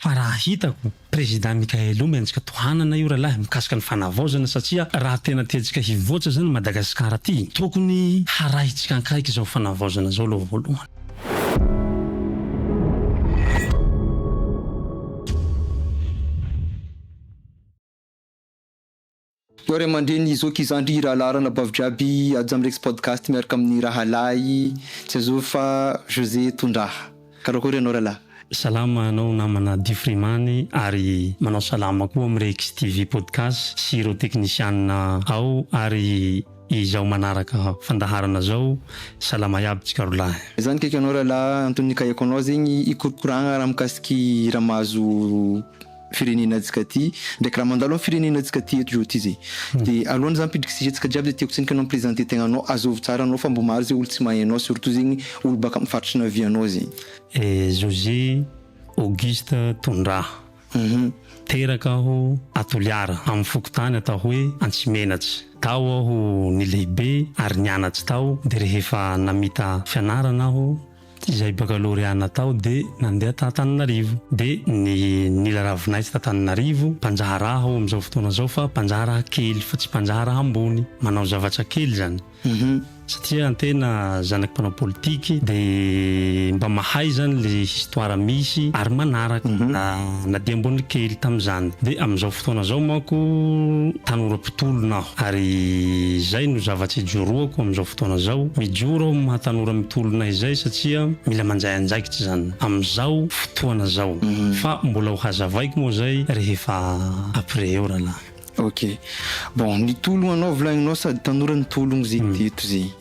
Fa raha hitako, Président Mickaël o, mianjika tohanana io ralahy mikasika ny fanavaozana satsia raha tena tiantsika hivoatra zany Madagascar ty, tokony harahintsika ankaiky zao fanavaozana zao aloha voalohany. Eo ray aman-dreny zoky zandry rahalahy ranabavy jiaby ajo am rex podcast miaraka amin'ny rahalahy tsy azovy fa José Tondraha. Karakory ianao rahalahy. Salama anao namana Difrimany ary manao salama koa am Rex TV podcast sy ireo teknisianina ao ary izao manaraka fandaharana zao salama iaby tsikarolahy. Za nikaiky anao rahalahy antony nikaiako anao zegny ikorokoragna raha mikasiky raha mahazo firenenantsika ty ndraiky raha mandalo am firenena tsika ty eto zao ty zay de alohan zany pidriky sujet tsika jiaby de tiako tsiniky anao mi-presenter tegna anao azovy tsara anao fa mbo maro zay olo tsy mahay anao surtout zegny olo baka am faritry navianao zegny. José Auguste Tondraha, teraka aho a Toliara amin'ny fokontany atao hoe Antsimenatsy. Tao aho nilehibe ary nianatsy tao dia rehefa namita fianarana aho, izay bakalôrea natao dia nandeha tany Antananarivo dia ny nila ravinaiso tany Antananarivo mpanjaha raha ao amin'izao fotoana izao fa mpanjaha raha kely fa tsy mpanjaha raha ambony manao zavatra kely izany satria antena zanaky mpanao politiky dia mba mahay izany le histoire misy ary manaraka na dia ambony kely tamin'izany dia amin'izao fotoana izao manko tanora mpitolona aho. Ary izay no zava-tsy ijoroako amin'izao fotoana izao. Mijoro aho amin'ny maha tanora mitolona izay satria mila manjay andraikitra izany amin'izao fotoana izao. Fa mbola ho hazavaiko moa izay rehefa après eo rahalahy. Ok. Bon, nitologna anao volagnonao sady tanora nitologno zay teto zay.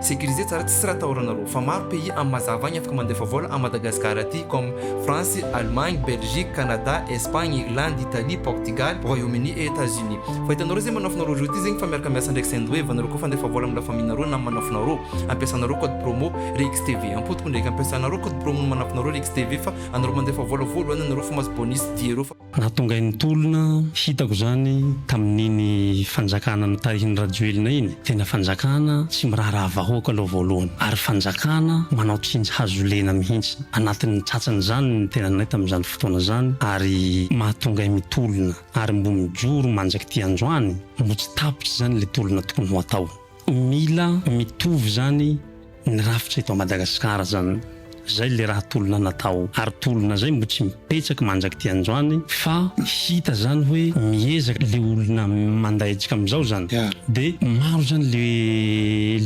Sécurisé tsara tsisy raha atahorana aloha fa maro pays am mazava agny afaka mandefa vola am Madagascar aty comme France, Allemagne, Belgique, Canada, Espagne, Irlande, Italie, Portugal, Royaume Uni et Etats Unis. Fa hitanao reo zay manafinareo reo ty zegny fa miaraka miasa ndraiky Sendwave anareo koa fa andefa vola am la famille nareo nam manafinareo ampiasanareo code promo Rix TV am potoko ndraiky ampiasanareo code promo ny manafinareo Rix TV fa anareo mandefa vola voalohany anareo fa mahazo bonus diereo fa Raha tonga eny Tolona, hitako izany tamin'iny fanjakana notarihin'i Rajoelina iny, tena fanjakana tsy miraharaha vahoaka aloha voalohany, ary fanjakana manao tsindry hazo lena mihitsy. Anatin'ny tratran'izany ny tenanay tamin'izany fotoana izany, ary mahatonga ahy mitolona, ary mbo mijoro manjak'ity androany, mbo tsy tapitra izany ilay tolona tokony ho atao. Mila mitovy zany ny rafitra eto Madagascar zany zay le raha tolona natao ary tolona zay mbo tsy mipetsak manjak ty androany fa hita zany hoe miezak le olona mandaijka amzao zany de maro zany le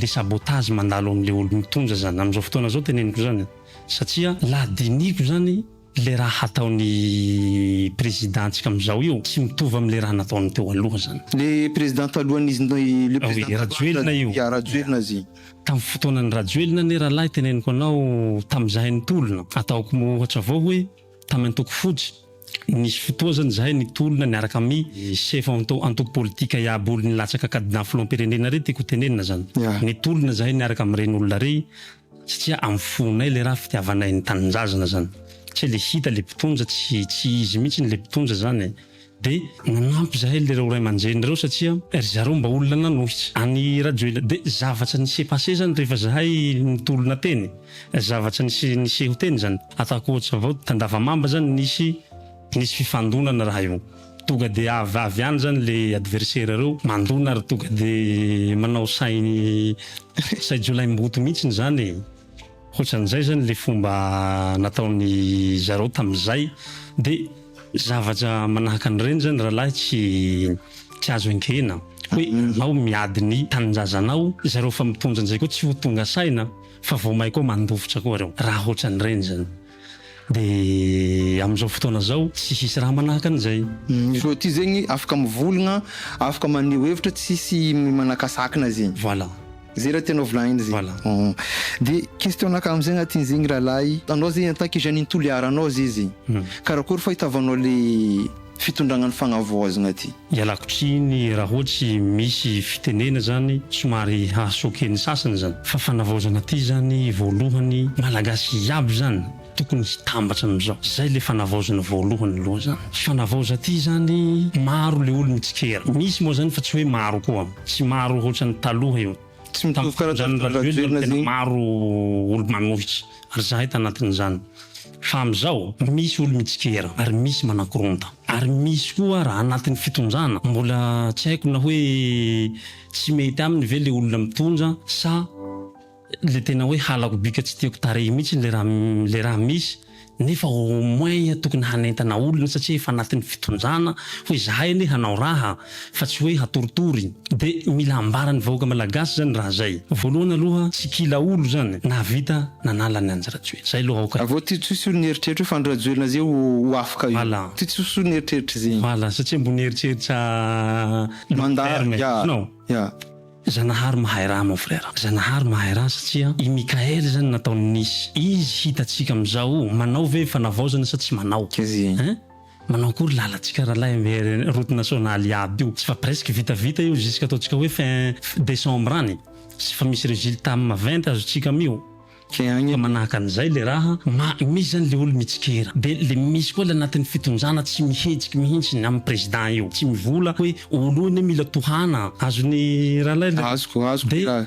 le sabotage mandalo amle olo mitonja zany amzao fotoana zao teneniko zany satsia laha diniko zany Le raha hataon'i président ntsika amizao io tsy mitovy amle raha nataony teo aloha zany. Le président talohan'izy le président taloha Rajoelina io. Ya Rajoelina izy. Tam fotoanan'i Rajoelina anie rahalahy teneniko anao tam zahay nitolona ataoko ohatra avao hoe tam antoko fotsy nisy fotoa zany zahay nitolona niaraka ami chef antoko politika iaby olo nilatsaka cadenas filohampirenena rey tiako ho tenenina zany. Ya. Nitolona zahay niaraka am reny olona rey Satria am fonay le raha fitiavanay ny tanindrazana zany satria le hita le mpitonja tsy tsy izy mihitsiny le mpitonja zany e! de nanampy zahay le reo ray aman-dreny reo satria ry zareo mba olona nanohitra an'i Rajoelina de zavatra ni s'est passé zany rehefa zahay nitolona teny zavatra nisy niseho teny zany ataoko ohatra avao tandavamamba zany nisy nisy fifandonana raha io Tonga dia avy avy any zany le adversaire reo mandona ary tonga dia manao say say jiolahimboto mihitsiny zany e! Hotran'izay zany le fomba nataony zareo tamizay de zavatra manahaka an'ireny zany rahalahy tsy tsy azo enkena hoe enao miady ny tanindrazanao zareo fa mitondra an'izay koa tsy ho tonga saina fa vao may koa mandofitra koa reo raha hotran'ireny zany. Dia amin'izao fotoana izao tsy hisy raha manahaka an'izay. Ny zo aty zegny afaka mivolgna, afaka maneho hevitra tsisy manakasakina zegny. Voilà. Zay raha tianao volagnina zegny. Voilà. De question naka am zegny aty zegny rahalahy, anao zegny en tant que jeune in Toliara anao zay zegny karakory fahitavanao le. fitondragna ny fagnavoazagna ty. Ialako tsiny raha ohatsy misy fitenena zany somary haha choquer ny sasany zany fa fanavaozana ty zany voalohany malagasy iaby zany tokony hitambatra amizao zay le fanavaozana voalohany aloha zany fanavaoza ty zany maro le olo mitsikera misy moa zany fa tsy hoe maro koa tsy maro hoatrany taloha io tam fitondran rajoelina no tena maro olo manohitra. Ary zahay tanatin'izany. Fa amin'izao, misy olo-mitsikera, ary misy manakoronta. Ary misy koa raha anatin'ny fitonjana, mbola tsy haiko na hoe tsy mety aminy ve le olona mitondra, sa le tena hoe halako bika tsy tiako tarehy mihitsy le raha, le raha misy. Nefa au moins tokony hanentana olona satria efa anatin'ny fitonjana, hoe zahay anie hanao raha. fa tsy hoe hatoritory. Dia mila ambaran'ny vahoaka malagasy izany raha izay. Voalohany aloha tsy kila olo izany nahavita nanala an'i Andry Rajoelina. Izay aloha aoka. Avao ty tsosy olona eritreritra hoe fa Andry Rajoelina zay ho afka io. Voilà. Ty tsosy olona eritreritra zay. Voilà, satria mbo nieritreritra long terme ianao. Yeah. Zanahary mahay raha mon frère. Zanahary mahay raha satria i Mickaël zany nataony nisy. Izy hitatsika amizao manao ve fanavaozana sa tsy manao. Hein? Manao akory lalantsika ralahy amy route nationale iaby io tsy fa presque vita vita io jusque ataontsika hoe fin décembre any tsy fa misy resultat amy maventy azontsika amy io fa manahaka anizay le raha ma misy zany le olo mitsikera de le misy koa le anatiny fitonjana tsy mihetsiky mihintsy ny amy president io tsy mivola hoe olo io anie mila tohana azony ralahy le azoko azoko le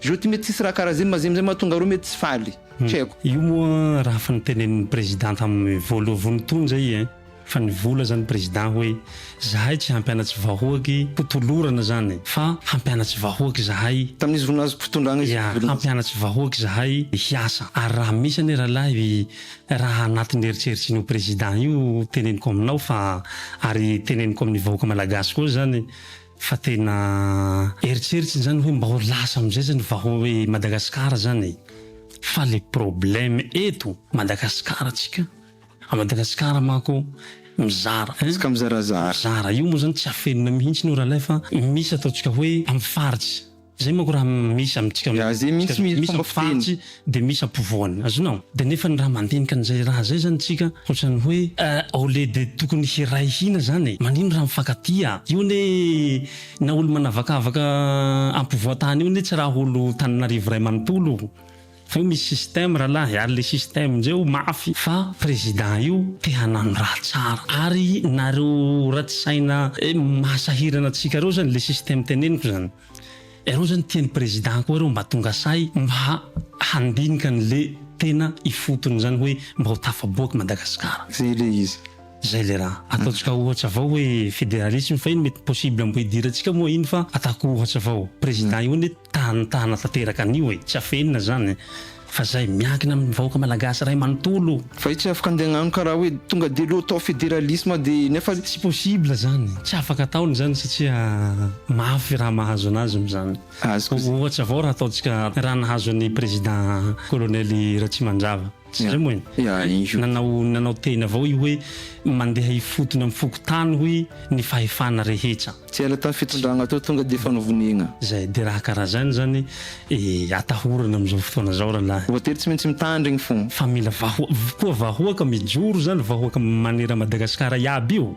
Je ty mety tsisy raha karaziny mazim zay mahatonga reo mety tsy faly. Tsy haiko. Io moa raha fa ny tenenin'ny président tamin'ny voaloavony tony zay eh! Fa nivola zany président hoe zahay tsy hampianatsy vahoaky ho tolorana zany fa hampianatsy vahoaky zahay, Tamin'izy ro nahazo fitondrana izy. Ia, hampianatsy vahoaky zahay hiasa. Ary raha misy anie rahalahy raha anatin'ny eritreritrin'io président io teneniko aminao fa ary teneniko amin'ny vahoaka malagasy koa zany, Fa tena eritreritry izany hoe mba ho lasa amizay zany vahoa i Madagascar zany e! Fa le problème eto Madagascar tsika a Madagascar manko mizara hein! Tsika mizarazara. Mizara io moa zany tsy afenina mihintsiny io ralay fa misy ataontsika hoe amy faritsy. Zay manko raha misy amintsika Ya zay mintsy misy fomba fiteny. de misy ampovoany azonao de nefa ny raha mandinika an'izay raha zay zany tsika ohatrany hoe au lieu de tokony hiray hina zany e manino raha mifankatia io anie na olo manavakavaka ampovoan-tany io anie tsy raha olo Tananarivo ray manontolo. Fa io misy système ralahy ary le système njeo mafy fa président io te hanano raha tsara ary nareo ratsy saina maha sahirana antsika reo zany le système teneniko zany iareo zany tiany président koa reo mba tonga sahy mba handinika anle tena ifotony zany hoe mba ho tafaboaka Madagascar. Zay le izy. Zay le raha ataontsika ohatra avao hoe federalisme fa iny mety possible mbo hidirantsika moa iny fa ataoko ohatra avao président io anie tanitana tanteraka an'io e tsy afenina zany fa zay miankina amin'ny vahoaka malagasy ray manontolo. Fa io tsy afaka andeha agnano karaha hoe tonga dia aloha atao federalisme de nefa. Tsy possible zany, tsy afaka ataony zany satria mafy raha mahazo anazy amin'izany. Ohatra avao raha ataontsika raha nahazo an'i président colonel Ratsimandrava. Zay moa e! Nanao nanao teny avao io hoe mandeha hifotony am fokontany hoy ny fahefana rehetra. Tsy ela tam fitondragna teo tonga de efa novonegna. Zay de raha karaha zany zany e atahorana am zao fotoana zao ralahy. Voatery tsy maintsy mitandry igny fô. Fa mila vahoa koa vahoaka mijoro zany vahoaka manera Madagascar iaby io.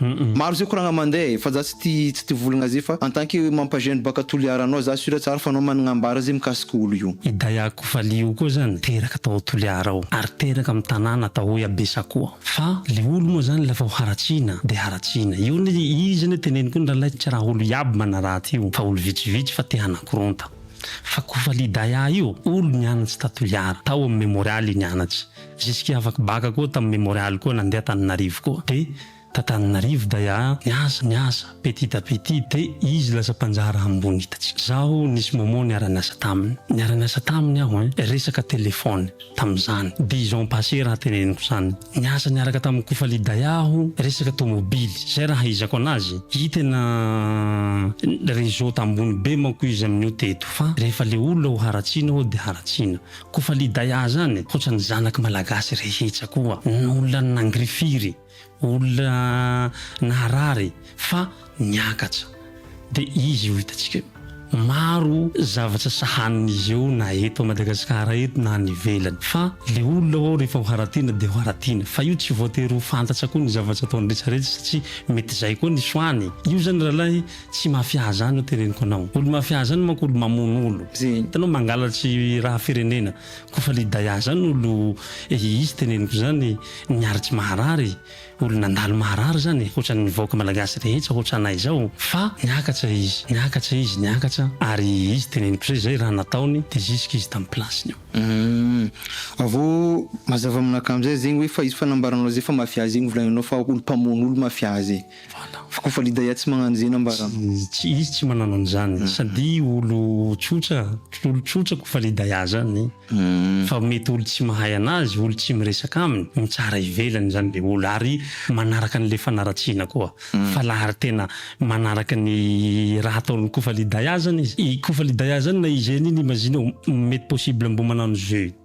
Maro zay koragna mande e, fa za tsy ti tsy ti volagna zay fa en tant que mampa jeune baka Toliara anao za sur tsara fa anao managna ambara zay mikasika olo io. I Dayako Vali io koa zany niteraka tao Toliara ao ary teraka amin'ny tanàna atao hoe Abesakoa fa le olo moa zany la vao haratsiana de haratsiana io anie izy anie teneniko io ny ralay tsy raha olo iaby manaraty io fa olo vitsivitsy fa te hanakoronta fa ko Vali Daya io olo nianatsy ta Toliara tao amin'ny Memorial i nianatsy Jusque afaka baka koa tam memorial koa nandeha Antananarivo koa de t'Antananarivo day aa niasa niasa petit à petit de izy lasa mpanjara ambony hitantsika zaho nisy moment niara niasa taminy niara niasa taminy aho hein resaka telephone tamzany dix ans passé raha teneniko zany niasa niaraka tam Kofali day aho resaka tomobily zay raha haizako anazy i tena réseau tambony be manko izy aminio teto fa rehefa le olona ho haratsiana aho de haratsiana Kofa liday ahy zany hotran'ny zanaky malagasy rehetsa koa olona nangirifiry olona naharary fa niakatra de izy io hitantsika io maro zavatra sahanin'izy eo na eto Madagasikara eto na any ivelany fa le olona ho'o rehefa ho haratina de ho haratina fa io tsy voatery ho fantatra koa ny zavatra ataony retraretra satria mety zay koa ny soany io zany ralahy Tsy mafia zany no teneniko anao. Olo mafia zany manko olo mamono olo. Hitanao mangalatry raha firenena. Kofa lidaya zany olo ehe izy teneniko zany miary tsy maharary. Olo nandalo maharary zany hotrany vahoka malagasy rehetra hotranay zao. Fa niakatra izy niakatra izy niakatra ary izy teneniko zay zay raha nataony de zisika izy tam place ny Humm avao mazava aminakahy amzay zegny hoe fa izy fanambaranao zay fa mafia zegny volaninao fa olo pamono olo mafia zay. Fa kofa lidaya tsy magnano zeny ambara. Tsy izy tsy manano an'izany sady olo tsotra olo tsotra kofa lidaya zany fa mety olo tsy mahay anazy olo tsy miresaka aminy mitsara ivelany zany le olo ary manaraka anle fanaratsiana koa fa la ary tena manaraka ny raha ataon'i kofa lidaya zany izy i kofa lidaya zany na izy eny iny imazinao mety possible mbo manano jeu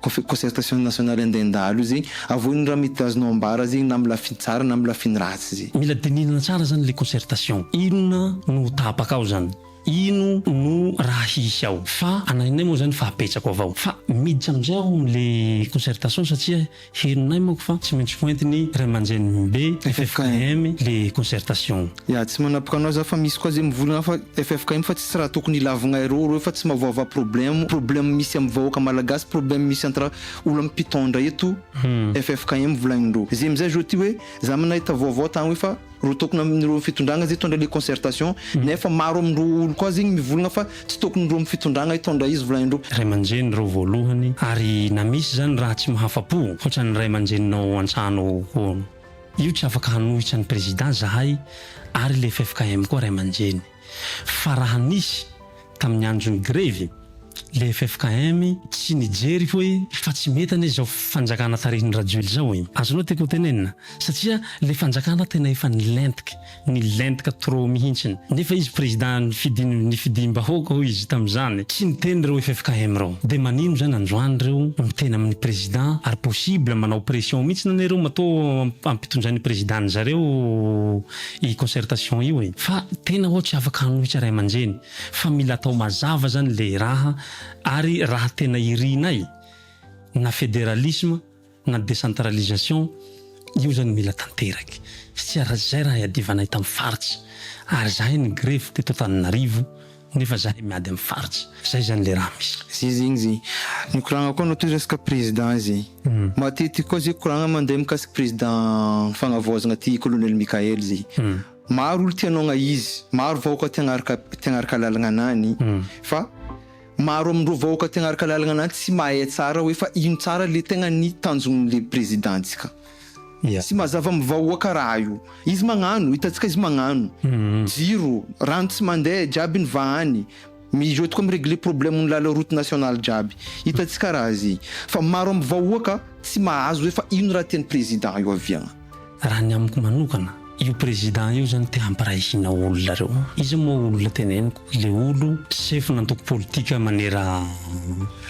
Concertation nationale andeha handalo zegny, avohy ny raha mety azonao ambara zegny na amin'ny lafiny tsara na amin'ny lafiny ratsy zegny. Mila dinihina tsara zany le concertation, inona no ho tapaka ao zany, ino no raha hisy ao, fa anahinay moa zany fa apetrako avao, fa miditra amizay aho amin'ny le concertation satria henonay manko fa tsy maintsy hoentiny ray aman-drenimbe ffkm le concertation. Ya tsy manapaka anao za fa misy koa ze mivolagna fa ffkm fa tsisy raha tokony hilavigna ireo reo fa tsy mavoava problemo problemo misy am vahoaka malagasy problemo misy entre olo am pitondra eto ffkm volagnindreo ze amizay zo ty hoe za manahita vaovao tagny hoe fa ro tokony aminireo am fitondragna ze tondra le concertation nefa maro amindreo olo koa zegny mivolagna fa tsy tokony ndreo am fitondragna hitondra izy volagnindreo. Ray aman-dreny reo voalohany ary na misy zany raha tsy mahafa-po hoatran'ny ray aman-dreninao antsahanao hono. Io tsy afaka hanohitra ny président zahay ary le ffkm koa ray aman-dreny fa raha nisy tamin'ny andron'ny grevy le ffkm tsy nijery hoe fa tsy mety anie zao fanjakana tarihin'i rajoelina zao e! azonao tiako ho tenenina satria le fanjakana tena efa nilentika Nilentika trop mihintsiny. Nefa izy président nifidin nifidiam-bahoaka hoy izy tamin'izany. Tsy niteny ireo ffkm ireo. Dia manino izany androany ireo miteny amin'ny président ary possible manao pression mihintsy na ireo matoa amp ampitondrain'ny président ny zareo i concertation io e. Fa tena ho'a tsy afaka hanohitra ray aman-dreny. Fa mila atao mazava izany ilay raha ary raha tena irinay na fédéralisme na décentralisation io zany mila tanteraky satsia ra zay raha iadivanay tam faritsy ary zahay ny grevy teto Antananarivo nefa zahay miady am faritsy zay zany le raha misy. Zay zegny zay nikoragna koa anao toy resaka président zay matetiky koa zay koragna mandeha mikasiky président fagnavaozagna ty colonel Mickaël zay maro olo ty anao agna izy maro vahoka ty agnaraka ty agnaraka lalagna anany fa Maro amin'ireo vahoaka tegna araka lalagna na tsy mahay tsara hoe fa ino tsara le tegna ny tanjon'le Prezidantsika. Tsy mazava am vahoaka raha io. Izy magnano, hitantsika izy magnano. Jiro, rano tsy mandeha, jiaby ny vahany. Mijot koa mi-regler problème ny lala route nationale jiaby. Hitantsika raha zay. Fa maro am vahoaka tsy mahazo hoe fa ino raha tian'i Prezidan io aviagna. Raha ny amiko manokana, io président io zany te hampiray hina olona reo. Iza moa olona teneniko, le olo sefo nantoko politika manera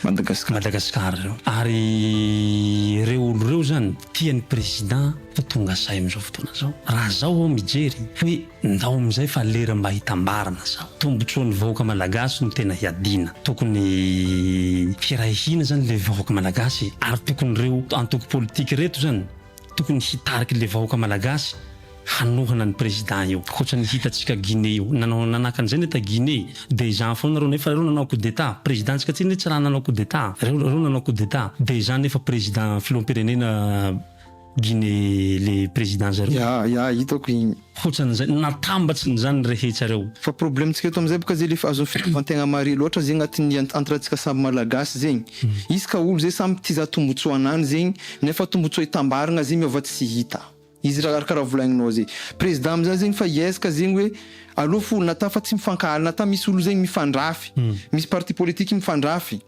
Madagascar. Madagascar reo. Ary reo olo reo zany tia ny président fa tonga say amizao fotoana zao. Raha zaho aho mijery hoe ndao amizay fa lera mba hitambarana zaho. Tombotsoan'ny vahoaka malagasy no tena hiadiana. Tokony hiray hina zany le vahoaka malagasy e. Ary tokony reo antoko politika reto zany Tokony hitarika le vahoaka malagasy hanohana ny président io akoatra ny hitantsika Guinée io nanao nanaka an'izay ne ta Guinée de izany foana reo nefa reo nanao coup d'etat président ntsika aty ne tsy raha nanao coup d'etat reo reo nanao coup d'etat de izany nefa président filoham-pirenena Guinée le président zareo. Ya ya hitako igny. hotran'izay natambatsiny zany rehetrareo. Fa problème tsika eto amzay boka zay lefa azon'ny fitovantegna mare loatra zegny agnatin'ny entre tsika samby malagasy zegny. Izy ka olo zay samby tiza tombotsoanany zegny nefa tombotsoa itambaragna zay miova tsy hita. Izy ra araka ra volagninao zay. Président amzany zegny fa iaiza ka zegny hoe alou fo na tafa tsy mifankahala na ta misy olo zegny mifandrafy. Misy parti politique mifandrafy.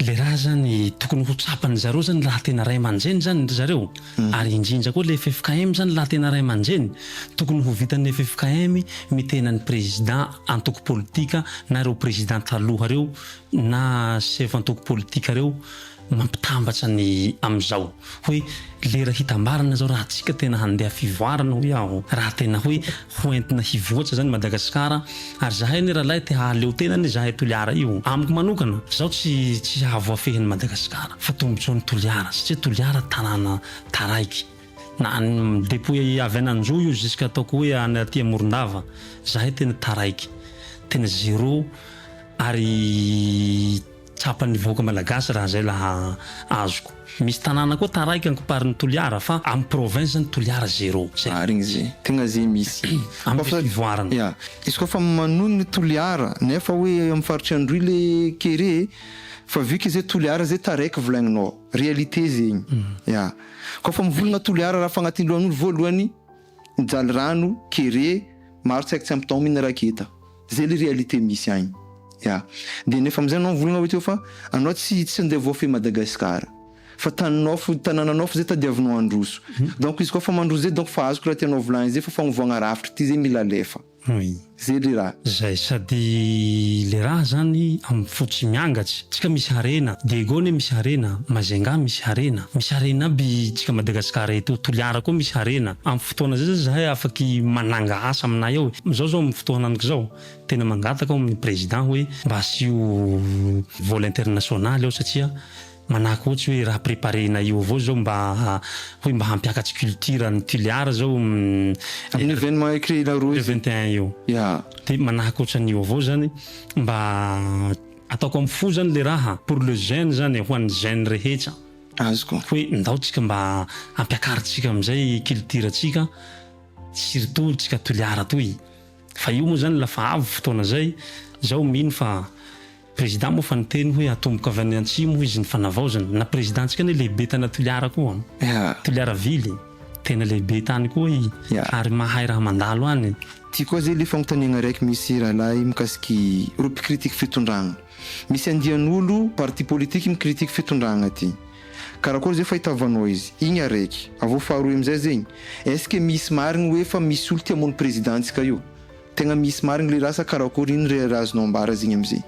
le raha zany tokony ho tsapan'ny zareo zany raha tena ray aman-dreny zany ry zareo ary indrindra koa le ffkm zany raha tena ray aman-dreny tokony ho vitan'ny ffkm mitena ny président antoko politika na ireo président taloha reo na chef antoko politika reo mampitambatra ny amizao. Hoe lera hitambarana izao raha tsika tena handeha fivoarana hoy aho, raha tena hoe ho entina hivoatra izany Madagasikara, ary zahay anie ralahy te hahaleo tena anie zahay Toliara io, amiko manokana zaho tsy tsy hahavoafehy an'i Madagasikara fa tombotsoa an'i Toliara satria Toliara tanàna taraiky na any depuis avy any Anjou io jusque ataoko hoe any aty Morondava zahay tena taraiky tena zero ary Tsapan'ny vahoaka malagasy raha izay laha azoko. Misy tanàna koa taraiky ankoparin'i Toliara fa amin'ny province ny Toliara zero. Zay. Marigny ze. Tegna ze misy. Amin'ny diso fivoarana. Ya. Izy koa fa manony ny Toliara nefa hoe amin'ny faritry Androy le kere e. Fa vu que ze Toliara ze taraiky volaigninao. Réalité zegny. Ya. Koa fa mivolagna Toliara raha fa agnatin'ny lohan'olo voalohany ny Jalirano, kere, maro tsy haiko tsy ampy taomina raketa. Zay le réalité misy agny. Ya. De nefa amizay anao mivolagna avakeo fa anao tsy tsy ndeha voafehy Madagascar. Fa taninao fo tanananao fo zay tadiavinao handroso. Donc izy koa fa mandroso zay donc fa azoko raha tianao volagny zay fa fagnovagna rafitry ty zay mila alefa. Zay le raha. Zay sady le raha zany am fo tsy miangatsy. Tsika misy harena. Diego anie misy harena. Majunga misy harena. Misy harena aby tsika Madagascar eto. Toliara koa misy harena. Am. fotoana zay zany zahay afaky mananga asa aminay ao e! Zao zao amin'ny fotoanank zao tena mangataka aho amin'ny président hoe mba asio vol international ao satria manahaka ohatsy hoe raha préparenay io avao zao mba hoe mba hampiakatsy culture any Tulear zao amin'ny événement écrire-na roa le vingt et un io ya de manahaka otran'io avao zany mba ataoko am fo zany le raha pour le jeune zany e! ho an'ny jeune rehetra. azoko. Hoe ndao tsika mba ampiakarintsika amizay culture tsika surtout tsika toliara toy fa io moa zany la fa avy fotoana zay zaho mino fa président moa fa niteny hoe atomboka avy any antsimo hoy izy ny fanavaozana na président tsika anie lehibe tana toliara koa toliara ville tena lehibe tany koa i ary mahay raha mandalo any. Ty koa zay le fanontaniagna raiky misy rahalahy mikasiky reo mpikritik fitondragna. Misy andian'olo parti politique mi-critique fitondragna ty. Karakôry zay fahitavanao izy? Igny araiky. Avy eo faharoe amizay zegny, est-ce que misy marigny hoe fa misy olo ti-hamono Prezidantsika io? Tegna misy marigny le raha sa karakôry? Ino re raha azonao ambara zegny amizay?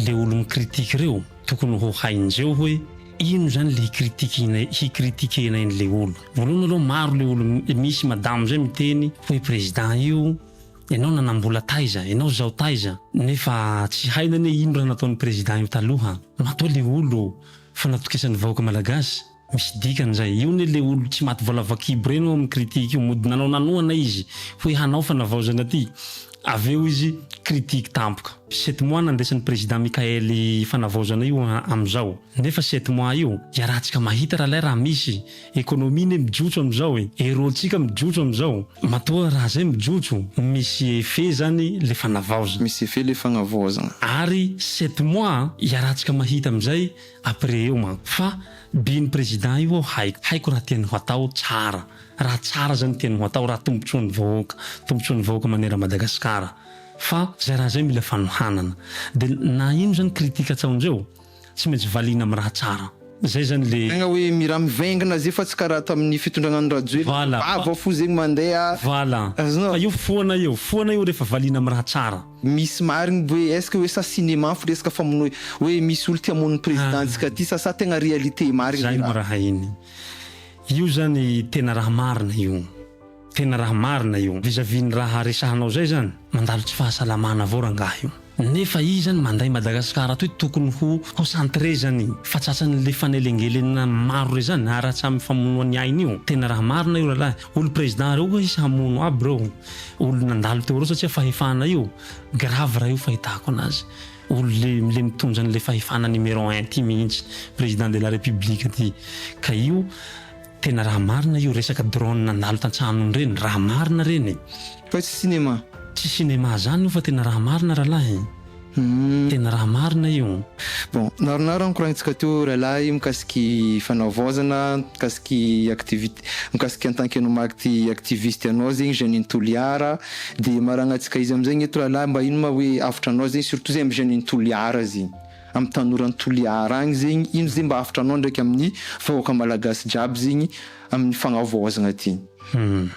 Le olo mi-critique reo tokony ho hainjeo hoe ino zany le hi-critique-na hi-critique-nay anle olo. Voalohany aloha maro le olo misy madamo zay miteny hoe Prezidan io, Ianao nanambola taiza, ianao zao taiza, nefa tsy haina anie ino raha nataony président io taloha, matoa le olo fa natokisany vahoaka malagasy, misy dikany zay, io anie le olo tsy maty vola vakibo reny ao aminy critique io mody nanao nanohana izy hoe hanao fanavaozana aty, avy eo izy critique tampoka. Sept mois nandesany président Michael fanavaozana io amizao, nefa sept mois io iarahantsika mahita ralay raha misy Economie ne mijotso amizao e, et role tsika mijotso amizao, matoa raha zay mijotso misy effet zany le fanavaozana. Misy effet le fagnavaozagna. Ary sept mois an, iarahantsika mahita amizay après eo manko. Fa by ny président io aho haiko, haiko raha tiany ho atao tsara, raha tsara zany tiany ho atao, raha tombotsoan'ny vahoaka, tombotsoan'ny vahoaka maneran Madagascar. Fa zay raha zay mila fanohanana. De na ino zany critique atsaonjeo, Tsy maintsy valiana amin'ny raha tsara. Zay zany le. Tegna hoe mira mivaingana zay fa tsy karaha tamin'ny fitondrana an'i Rajoelina. Voilà, fa. Vava fo zegny mandeha. Voilà, Azonao. fa eo foana eo, foana eo rehefa valiana amin'ny raha tsara. Misy marigny hoe est-ce que hoe sa cinéma fo resaka famonoa hoe misy olo te-hamono ny Président-ntsika ty sa sa tegna réalité marigny le raha. Zay no raha iny. Io zany tena raha marina io. Tena raha marina io. Vis à vis ny raha resahanao zay zany, mandalo tsy fahasalamana avao rangah io. Nefa izy zany mandray Madagascar atoy tokony ho concentré zany fa tratran'ny le fanelengelenana maro re zany ary hatramin'ny mifamonoa ny ainy io. Tena raha marina io ralahy. Olo président reo oa izy hamono aby reo olo nandalo teo reo satria fahefana io grave raha io fahitako anazy. Olo le le mitondra an'le fahefana numéro un ty mihintsy président de la république ty ka io Tena raha marina io resaka drone nandalo tantsahanony reny raha marina reny e. Fa tsy cinéma. Tsy cinéma zany io fa tena raha marina rahalahy e. Tena raha marina io. Bon, naronaro ny koragnintsika teo rahalahy mikasiky fanavaozana, mikasiky activité, mikasiky en tant que anao maty activiste anao zegny jeune in Toliara, de maragnatsika izy amizay gny eto rahalahy mba ino ma hoe avotra anao zegny surtout zegny am jeune in Toliara zegny. Am tanora an toliara agny zegny ino ze mba hafatra anao ndraiky amin ny vahoaka malagasy jiaby zegny amin ny fagnavaozagna ty. Humm.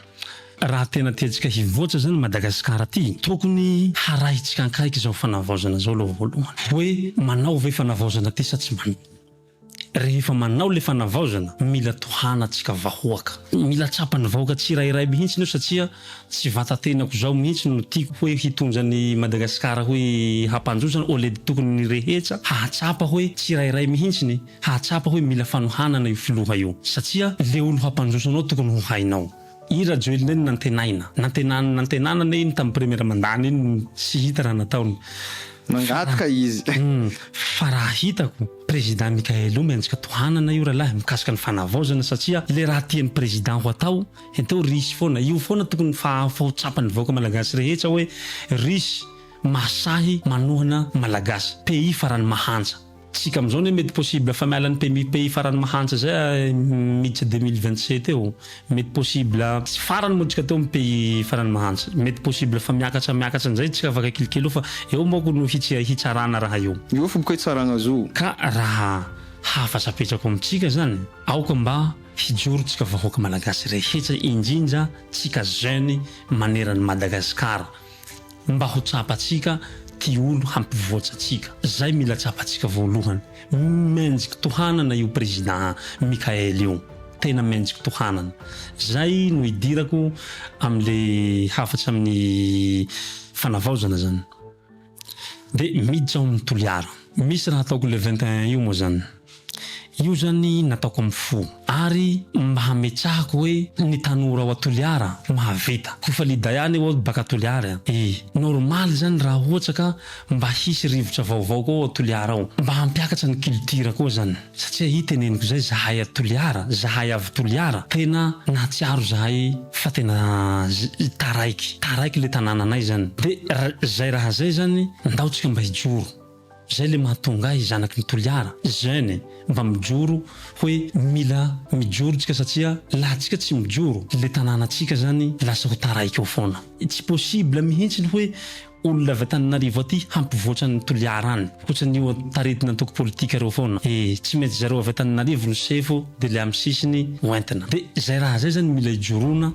Raha tena tiantsika hivoatra zany Madagasikara ty, tokony harahintsika ankaiky zao fanavaozana zao aloha voalohany. Hoe manao ve fanavaozana ty sa tsy manao. Rehefa manao ilay fanavaozana, mila tohanantsika vahoaka. Mila tsapan'ny vahoaka tsirairay mihitsy io satria tsy vatatenako izao mihitsy no tiako hoe hitondra an'i Madagasikara hoe hampandroso au lieu tokony ny rehetsa hahatsapa hoe tsirairay mihitsy ny hahatsapa hoe mila fanohanana io filoha io satria le olo hampandroso anao tokony ho hainao I Rajoelina iny nantenaina, nantenany nantenana anie iny tamin'ny première mandany iny tsy hita raha nataony Nangataka izy. Humm fa raha hitako Président Mickaël o mianjika tohanana io ralahy mikasika ny fanavaozana satria le raha tian'ny Président ho atao enteo risy foana io foana tokony fahafa ho tsapan'ny vahoaka Malagasy rehetsa hoe risy mahasahy manohana Malagasy pays farany mahantra Tsika amizao ne mety possible fa miala ny pmi pays farany mahantra zay a miditra deux mille vingt sept eo mety possible tsy farany moa tsika teo am pays farany mahantra mety possible fa miakatra miakatra nizay tsika afaka kelikely eo fa eo manko no hitsia hitsarana raha io. Io foko hoe Tsaragnazo. Ka raha hafatra apetrako amitsika zany aoka mba hijoro tsika vahoaka malagasy rehetra indrindra tsika jeune maneran Madagascar. Mba ho tsapantsika ty olo hampivoatsa antsika zay mila tsapantsika voalohany menjik tohanana io président Mickaël io tena menjik tohanana zay no idirako amle hafatra aminy fanavaozana zany de miditra ao aminy Toliara misy raha ataoko le 21 io moa zany Io zany nataoko am fo ary mba hametrahako hoe ny tanora ao a Toliara mahavita. Ko fa Lida ihany eo ao baka Toliary a! E! Normal zany raha ohatra ka mba hisy rivotra vaovao koa ao Toliara ao. Mba hampiakatra ny culture koa zany. Satria i teneniko zay zahay a Toliara, zahay avy Toliara tena nahatsiaro zahay fa tena taraiky, taraiky le tanananay zany. De zay raha zay zany ndao tsika mba hijoro. Zay le mahatonga ahy zanaky ny Toliara jeune e mba mijoro hoe mila mijoro tsika satsia laha tsika tsy mijoro le tanàna tsika zany lasa ho taraiky eo foana. Tsy possible mihitsy ny hoe olona avy Antananarivo aty hampivoatra an'i Toliara any. Ohatrany io taridina antoko politika reo foana. E tsy mety zareo avy Antananarivo no sefo de le am sisiny ho entina. De zay raha zay zany mila ijoroana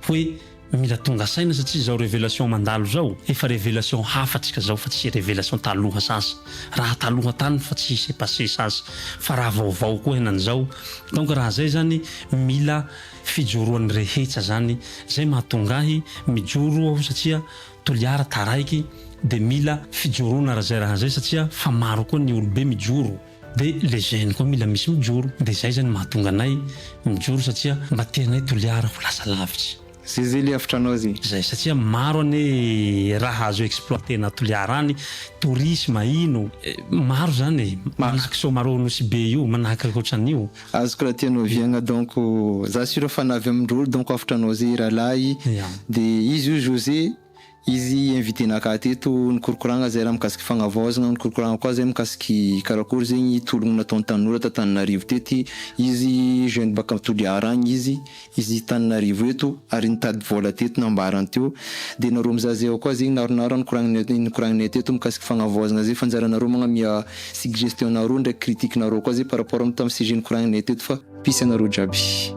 hoe. Mila tonga saina satria zao revelation mandalo zao efa revelation hafa tsika zao fa tsy revelation taloha sasa raha taloha tany fa tsy s'est passe sasa fa raha vaovao koa henan'izao donc raha zay zany mila fijoroan'ny rehetsa zany zay mahatonga ahy mijoro aho satria Toliara taraiky de mila fijoroana raha zay raha zay satria fa maro koa ny olobe mijoro Dia le gène koa mila misy mijoro, dia zay zany mahatonga anay mijoro satria mba tianay Toliara ho lasa lavitra. Zay zay le havitranao zay. Zay satria maro anie raha azo exploiter-na à Toliara any, tourisme ino, maro zany e, manahaka Soamarao Nosy be io, manahaka ohatran'io. Azoko raha tianao viagna donc za sûr fa na avy amin-drolo donc havitranao zay rahalahy, dia izy io José. Izy invite naka teto nikorokoragna zay raha mikasiky fagnavaozagna, nikorokoragna koa zay mikasiky karakory zegny tologno nataon'ny tanora ta Tananarivo tety, izy jeune baka Toliara agny izy, izy Tananarivo eto ary nitady vôla teto nambarany teo, de nareo mizaha zay ao koa zegny naronaro raha nikoragninay nikoragninay teto mikasiky fagnavaozagna zay fa anjaranareo magnamia suggestion-nareo ndraiky critique-nareo koa zay par rapport am tam sujet nikoragninay teto fa. Peace anareo jiaby.